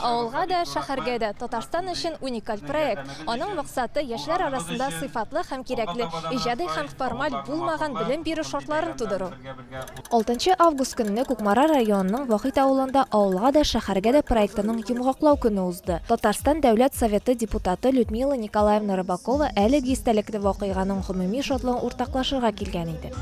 Авылга да, шәһәргә дә, Татарстан өчен уникаль проект. Аның максаты, яшьләр арасында сыйфатлы һәм кирәкле, иҗади һәм формаль булмаган белем бирү шартларын тудыру. Алтынчы август көнне Кукмара районының Вахит авылында Авылга да, шәһәргә дә проектының йомгаклау көне узды. Татарстан Дәүләт Советы депутаты Людмила Николаевна Рыбакова әлеге истәлекле вакыйганың гомуми шатлыгын уртаклашырга килгән иде.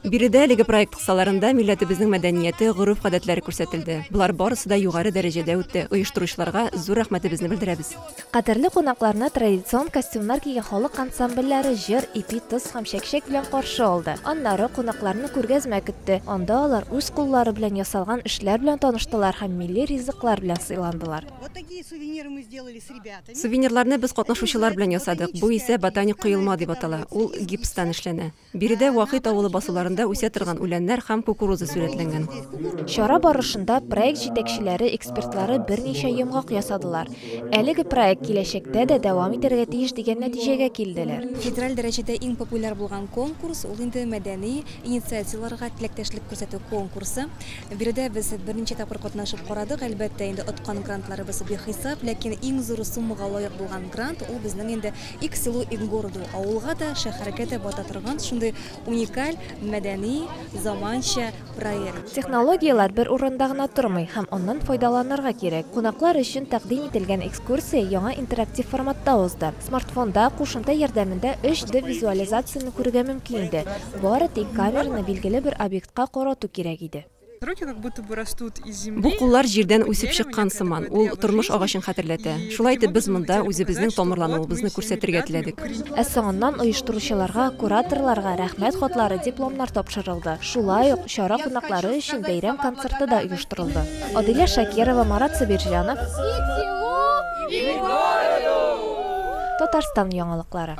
Биредә әлеге проект кысаларында милләтебезнең мәдәнияте, гореф-гадәтләре күрсәтелде. Болар барысы да югары дәрәҗәдә үтте. Оештыручыларга зур рәхмәтебезне белдерәбез. Кадерле кунакларны традицион костюмнар кигән халык ансамбльләре җыр, ипи, тоз һәм чәкчәк белән каршы алды. Аннары кунакларны күргәзмә көтте, анда алар үз куллары белән ясалган эшләр белән таныштылар һәм милли ризыклар белән сыйландылар. Сувенирларны без катнашучылар белән ясадык, бу исә ботаник коелма дип атала, ул гипстан эшләнә. Биредә Вакыйт авылы басуларында үсә торган үләннәр һәм кукуруза сурәтләнгән. Чара барышында проект җитәкчеләре, экспертлары берничә йомгак ясадылар. Әлеге проект киләчәктә дә дәвам итәргә тиеш дигән нәтиҗәгә килделәр. Федераль дәрәҗәдә иң популяр булган конкурс, ул инде мәдәни инициативаларга теләктәшлек күрсәтү конкурсы. Биредә без берничә тапкыр катнашып карадык. Әлбәттә, инде откан грантларыбыз бихисап, ләкин иң зур суммага лаек булган грант, ул безнең инде Ик селу ик городу, авылга да, шәһәргә дә бата торган шундый уникаль мәдәни, заманча проект. Технологияләр бер урында гына тормый һәм аннан файдаланырга кирәк. Кунаклар өчен тәкъдим ителгән экскурсия яңа интерактив форматта узды. Смартфонда, кушымта ярдәмендә 3D визуализацияне күрергә мөмкин иде, бары тик камераны билгеле бер объектка карату кирәк иде. Бу куллар җирдән үсеп чыккан сыман, ул тормыш агачын хәтерләтә. Шулай итеп, без монда үзебезнең тамырлануыбызны күрсәтергә теләдек. Ә соңыннан оештыручыларга, кураторларга Рәхмәт хатлары, дипломнар тапшырылды. Шулай ук, чара кунаклары өчен бәйрәм концерты да оештырылды. Адилә Шакирова, Марат Сабирҗанов. Татарстан яңалыклары.